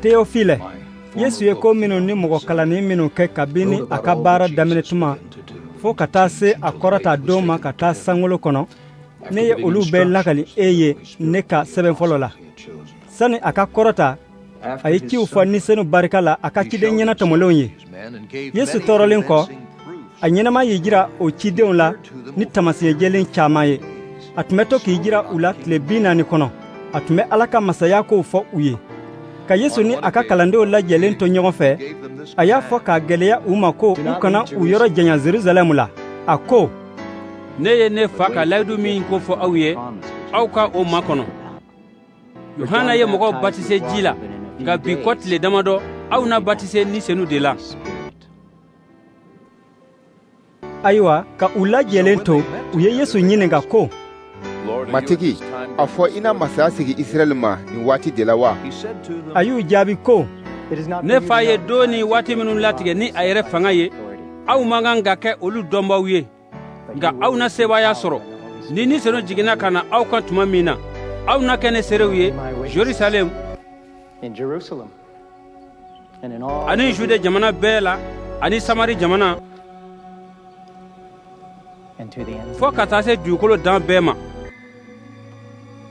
Teofile Yesu ye ko minnu ni mɔgɔ kalanni minnu kɛ kabini a ka baara daminɛ tuma fo ka taa se a kɔrɔta don ma ka taa sankolo kɔnɔ ne ye olu bɛɛ lakali e ye ne ka sɛbɛn fɔlɔ la sani a ka kɔrɔta a ye ciw fɔ ni senu barika la a ka ciden ɲɛnatɔmɔlenw ye yesu tɔɔrɔlen kɔ a ɲɛnama y'i jira o cidenw la ni taamasiyɛn jɛlen caman ye a tun bɛ to k'i jira u la tile bi naani kɔnɔ a tun bɛ ala ka masaya kow fɔ u ye ka yesu ni a ka kalandenw lajɛlen to ɲɔgɔn fɛ a y'a fɔ k'a gwɛlɛya u ma ko u kana u yɔrɔ janya jerusalɛm la a ko ne ye ne fa ka layidu min ko fɔ aw ye aw ka o makɔnɔ yuhana ye mɔgɔw batise ji la nka bi kɔ tile damadɔ aw na batise ni senu de la ayiwa ka u lajɛlen to u ye yesu ɲininka ko matigi a fɔ i na masaya sigi israɛl ma nin waati de la wa a y'u jaabi ko ne fa ye don ni waati minnu latigɛ ni a yɛrɛ fanga ye aw man kan ka kɛ olu dɔnbaaw ye nka aw na sebaaya sɔrɔ ni ni senu jiginna ka na aw kan tuma min na aw na kɛ ne seerew ye jerusalɛm ani jude jamana bɛɛ la ani samari jamana fo ka taa se dugukolo dan bɛɛ ma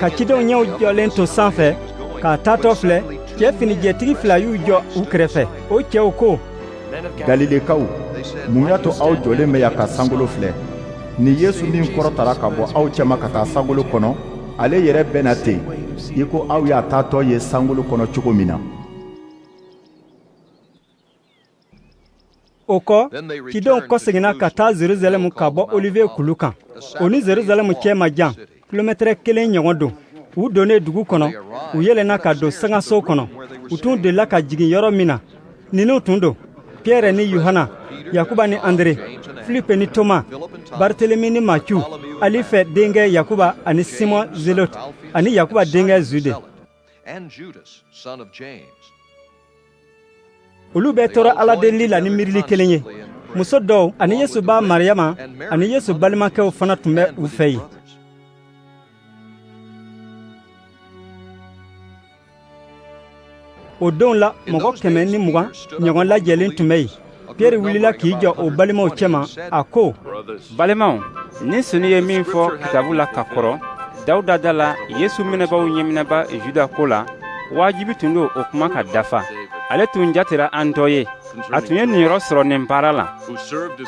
ka cidenw ɲɛw jɔlen to sanfɛ k'a taatɔ filɛ cɛ finijɛtigi fila y'u jɔ u kɛrɛfɛ o cɛw ko galilekaw mun y'a to aw jɔlen bɛ yan ka sankolo filɛ nin yesu min kɔrɔtara ka bɔ aw cɛma ka taa sankolo kɔnɔ ale yɛrɛ bɛ na ten i ko aw y'a taatɔ ye sankolo kɔnɔ cogo min na o kɔ cidenw kɔseginna ka taa jerusalɛm ka bɔ oliviye kulu kan o ni jerusalɛm cɛ man jan kilomɛtɛrɛ kelen ɲɔgɔn don u donnen dugu kɔnɔ u yɛlɛnna ka don sankanso kɔnɔ u tun delila ka jigin yɔrɔ min na ninnu tun don piyɛrɛ ni yuhana yakuba ni andere filipe ni toma bartelemi ni matiyu alifɛ denkɛ yakuba ani simɔn zelote ani yakuba denkɛ jude olu bɛɛ tora ala delili la ni miirili kelen ye muso dɔw ani yesu ba mariyama ani yesu balimakɛw fana tun bɛ u fɛ yen o donw la mɔgɔ kɛmɛ ni mugan ɲɔgɔn lajɛlen tun bɛ yen Pierre wulila k'i jɔ o balimaw cɛma a ko balimaw ni senu ye min fɔ kitabu la ka kɔrɔ dawuda da la yesu minɛbaaw ɲɛminɛbaa juda ko la wajibi tun don o kuma ka dafa ale tun jatera an dɔ ye a tun ye niyɔrɔ sɔrɔ nin baara la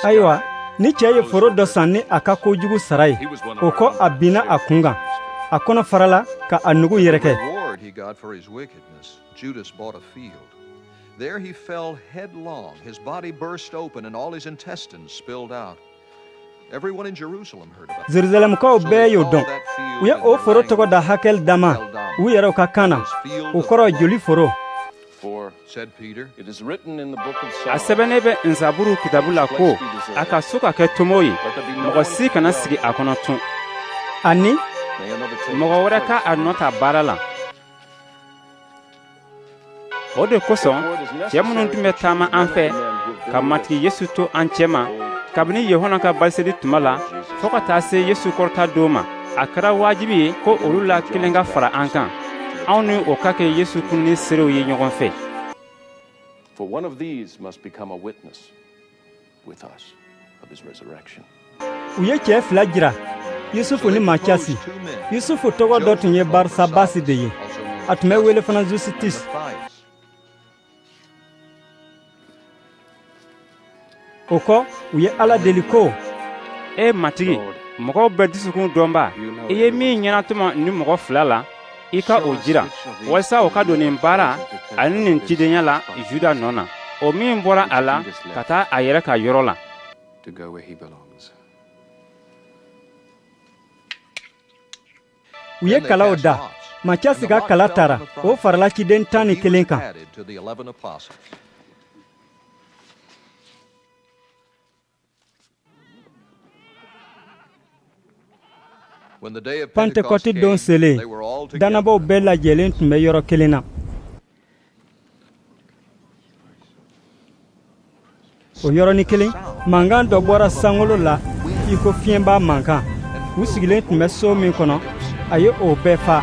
ayiwa nin cɛ ye foro dɔ san ni a ka kojugu sara ye o kɔ a binna a kun kan a kɔnɔ farala ka a nugu yɛrɛkɛ There he fell headlong. His body burst open and all his intestines spilled out. Everyone in Jerusalem heard about Jerusalemkaw bɛɛ y'o dɔn. U ye o foro tɔgɔ da Hakel Dama. U yɛrɛw ka kan na. O kɔrɔ joli foro. A sɛbɛnnen bɛ Nsaburu kitabu la ko a ka so ka kɛ tomo ye, mɔgɔ si kana sigi a kɔnɔ tun. Ani mɔgɔ wɛrɛ ka a nɔ ta baara la. o de kosɔn cɛ minnu tun bɛ taama an fɛ ka matigi yesu to an cɛma kabini yuhana ka batiseli tuma la fo ka taa se yesu kɔrɔta don ma a kɛra wajibi ye ko olu la kelen ka fara an kan anw ni o ka kɛ yesu kununni seerew ye ɲɔgɔn fɛ u ye cɛ fila jira yusufu ni macasi yusufu tɔgɔ dɔ tun ye barisabasi de ye a tun bɛ wele fana jusitus o kɔ u ye ala deli ko e matigi mɔgɔw bɛɛ dusukun dɔnbaa i ye min ɲɛnatɔmɔ nin mɔgɔ fila la i ka o jira walisa o ka don nin baara ani nin cidenya la juda nɔ na o min bɔra a la ka taa a yɛrɛ ka yɔrɔ la u ye kalaw da macasi ka kala tara o farala ciden tan ni kelen kan pantekɔti don selen dannabaaw bɛɛ lajɛlen tun bɛ yɔrɔ kelen na o yɔrɔnin kelen mankan dɔ bɔra sankolo la i ko fiɲɛba mankan u sigilen tun bɛ so min kɔnɔ a ye o bɛɛ fa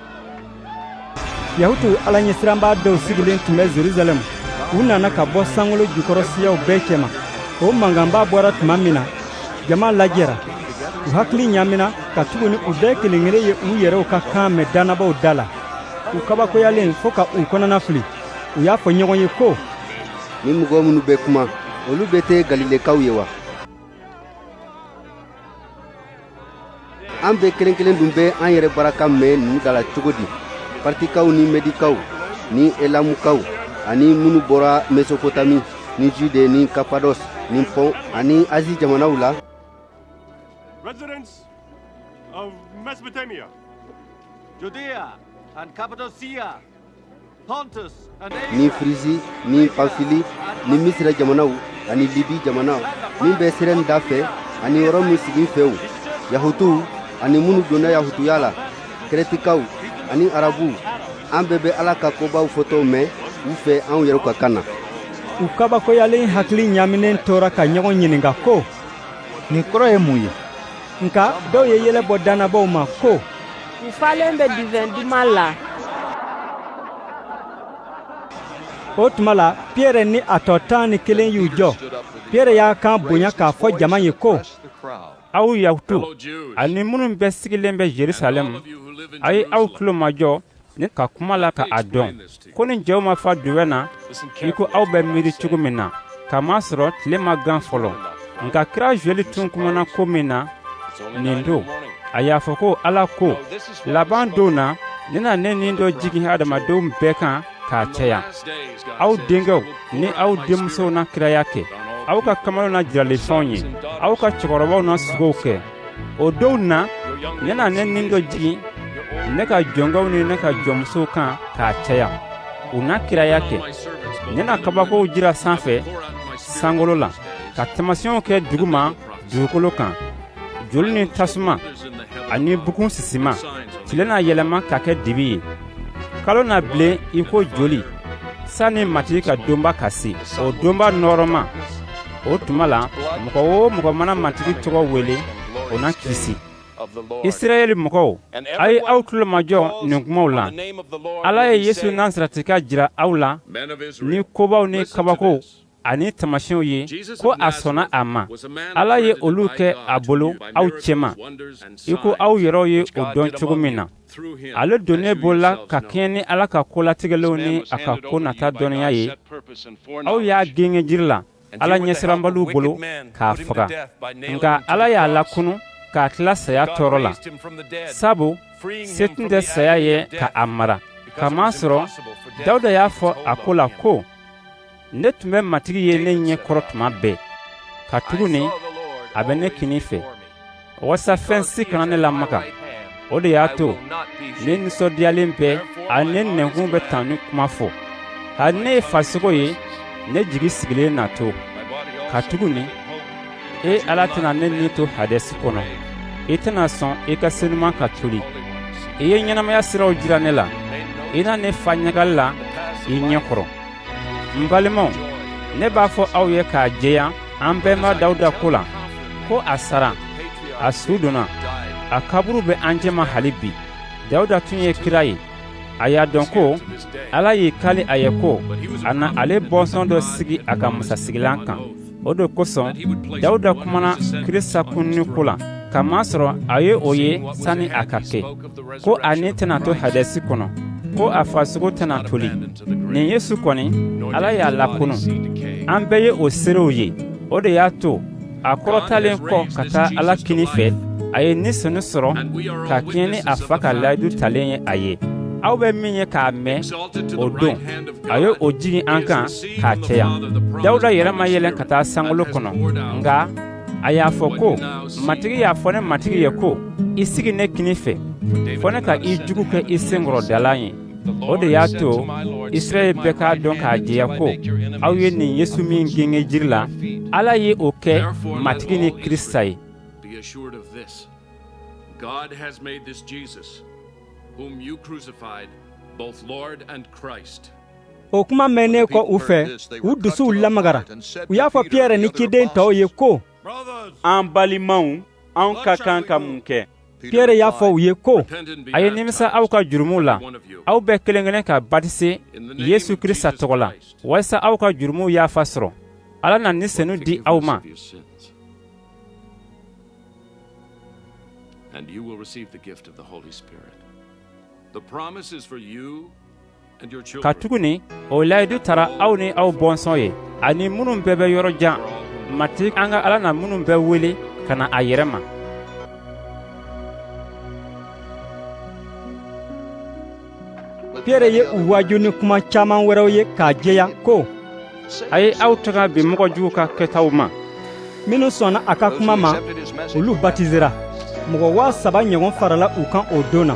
yahutu alaɲɛsiranbaa dɔw sigilen tun bɛ jerusalɛm u nana ka bɔ sankolo jukɔrɔ siyaw bɛɛ cɛma o mankanba bɔra tuma min na jama lajɛra u hakili ɲaamina katuguni u bɛɛ kelen kelen ye u yɛrɛw ka kan mɛn dannabaaw da la u kabakoyalen fo ka u kɔnɔna fili u y'a fɔ ɲɔgɔn ye ko nin mɔgɔ minnu bɛ kuma olu bɛɛ tɛ galilekaw ye wa an bɛɛ kelen kelen dun bɛ an yɛrɛ bara kan mɛn nin da la cogo di partikaw ni medikaw ni elamukaw ani minnu bɔra mesopotami ni jude ni kapados ni pɔn ani azi jamanaw la residents of mesopotamia judea and cappadocia ni firizi ni panfili ni misira jamanaw ani libi jamana min bɛ sirɛn da fɛ ani rɔmɛ siginfɛw yahutuw ani minnu donna yahutuya la kɛrɛtikaw ani arabuw an bɛɛ bɛ ala ka kobaw fɔtɔ mɛn u fɛ anw yɛrɛw ka kan na u kabakoyalen hakili ɲaminen tora ka ɲɔgɔn ɲininka ko nin kɔrɔ ye mun ye nka dɔw ye yɛlɛ bɔ dannabaaw ma ko U falen bɛ duvɛn duman la. o tuma la piyɛrɛ ni a tɔ tan ni kelen y'u jɔ piyɛrɛ y'a kan bonya k'a fɔ jama ye ko aw yahutuw ani minnu bɛɛ sigilen bɛ jerusalɛm a ye aw tulo majɔ ne ka kuma la ka a dɔn ko nin cɛw ma fa duvɛn na i ko aw bɛ miiri cogo min na k'a masɔrɔ tile ma gan fɔlɔ nka kira zuwɛli tun kumana ko min na nin don a y'a fɔ ko ala ko laban don na ne na ne ni dɔ jigin hadamadenw bɛɛ kan k'a caya aw denkɛw ni aw denmusow na kiraya kɛ aw ka kamalenw na jirali fɛnw ye aw ka cɛkɔrɔbaw na sugow kɛ o donw na ne na ne ni dɔ jigin ne ka jɔnkɛw ni ne ka jɔnmusow kan k'a caya u na kiraya kɛ ne na kabakow jira sanfɛ sankolo la ka tamasiyɛnw kɛ duguma dugukolo kan joli ni tasuma ani bugun sisima tile na yɛlɛma ka kɛ dibi ye kalo na bilen i ko joli sanni matigi ka donba ka se o donba nɔɔrɔma o tuma la mɔgɔ o mɔgɔ mana matigi tɔgɔ wele o na kisi isirayɛli mɔgɔw a ye aw tulo majɔ nin kumaw la ala ye yesu nasarɛtika jira aw la ni kobaw ni kabakow ani tamasiyɛnw ye ko a sɔnna a ma ala ye olu kɛ a bolo aw cɛma i ko aw yɛrɛw ye o dɔn cogo min na ale donnen bolo la ka kɛɲɛ ni ala ka ko latigɛlenw ni a ka ko nata dɔnniya ye aw y'a gengen jiri la ala ɲɛsiranbaliw bolo k'a faga nka ala y'a lakunu k'a tila saya tɔɔrɔ la sabu se tun tɛ saya ye ka a mara k'a masɔrɔ dawuda y'a fɔ a ko la ko ne tun bɛ matigi ye ne ɲɛ kɔrɔ tuma bɛɛ katuguni a bɛ ne kini fɛ walasa fɛn si kana ne lamaga o de y'a to ne nisɔndiyalen bɛ ani ne nɛnkun bɛ tanuni kuma fɔ hali ne ye farisogo yɛrɛ jigi sigilen na to katuguni e ala tɛna ne ni to hadɛsi kɔnɔ i tɛna sɔn i ka senuman ka toli i ye ɲɛnamaya siraw jira ne la i na ne fa ɲagali la i ɲɛ kɔrɔ n balimaw ne b'a fɔ aw ye k'a jɛya an bɛnba dawuda ko la ko a sara a su donna a kaburu bɛ an cɛma hali bi dawuda tun ye kira ye a y'a dɔn ko ala y'i kali a ye ko a na ale bɔnsɔn dɔ sigi a ka masasigilan kan o de kosɔn dawuda kumana krista kununi ko la k'a masɔrɔ a ye o ye sani a ka kɛ ko a ni tɛna to hadɛsi kɔnɔ ko a farisogo tɛna toli nin yesu kɔni ala y'a lakunu an bɛɛ ye o seerew ye o de y'a to a kɔrɔtalen kɔ ka taa ala kini fɛ a ye ni senu sɔrɔ ka kɛɲɛ ni a fa ka layidu talen ye a ye aw bɛ min ye k'a mɛn o don a ye o jigin an kan k'a caya dawuda yɛrɛ ma yɛlɛn ka taa sankolo kɔnɔ nka a y'a fɔ ko matigi y'a fɔ ne matigi ye ko i sigi ne kini fɛ fɔ ne ka i juguw kɛ i senkɔrɔdalan ye o de y'a to israɛl bɛɛ k'a dɔn k'a jɛya ko aw ye nin yesu min gengen jiri la ala ye o kɛ matigi ni krista ye God has made this Jesus Whom you crucified, both Lord and Christ. o kuma mɛnnen kɔ u fɛ u dusuw lamagara u y'a fɔ piyɛrɛ ni ciden tɔw ye ko an balimaw an ka kan ka mun kɛ piyɛrɛ y'a fɔ u ye ko a ye nimisa aw ka jurumuw la aw bɛɛ kelen kelen ka batise yesu krista tɔgɔ la walisa aw ka jurumuw yafa sɔrɔ ala na ni senu di aw ma And you will receive the gift of the Holy Spirit. The promise is for you and your children. Katuguni o layidu tara aw ni aw bɔnsɔn ye ani minnu bɛɛ bɛ yɔrɔ jan matigi an ka ala na minnu bɛɛ wele ka na a yɛrɛ ma Pierɛ ye u waaju ni kuma caman wɛrɛw ye k'a jɛya ko a ye aw tanga bi mɔgɔ juguw ka kɛtaw ma minnu sɔnna a ka kuma ma olu batisera mɔgɔ waa saba ɲɔgɔn farala u kan o don na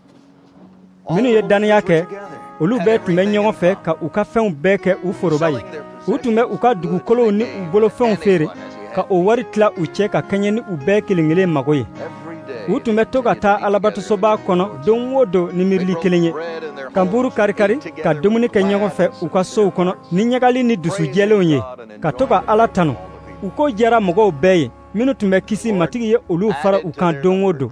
minnu ye dannaya kɛ olu bɛɛ tun bɛ ɲɔgɔn fɛ ka u ka fɛnw bɛɛ kɛ u foroba ye u tun bɛ u ka dugukolow ni u bolofɛnw feere ka o wari tila u cɛ ka kɛɲɛ ni u bɛɛ kelen kelen mago ye u tun bɛ to ka taa alabatosoba kɔnɔ don o don ni miirili kelen ye ka nbuuru karikari ka dumuni kɛ ɲɔgɔn fɛ u ka sow kɔnɔ ni ɲagali ni dusujɛlenw ye ka to ka ala tanu u ko diyara mɔgɔw bɛɛ ye minnu tun bɛ kisi matigi ye olu fara u kan don o don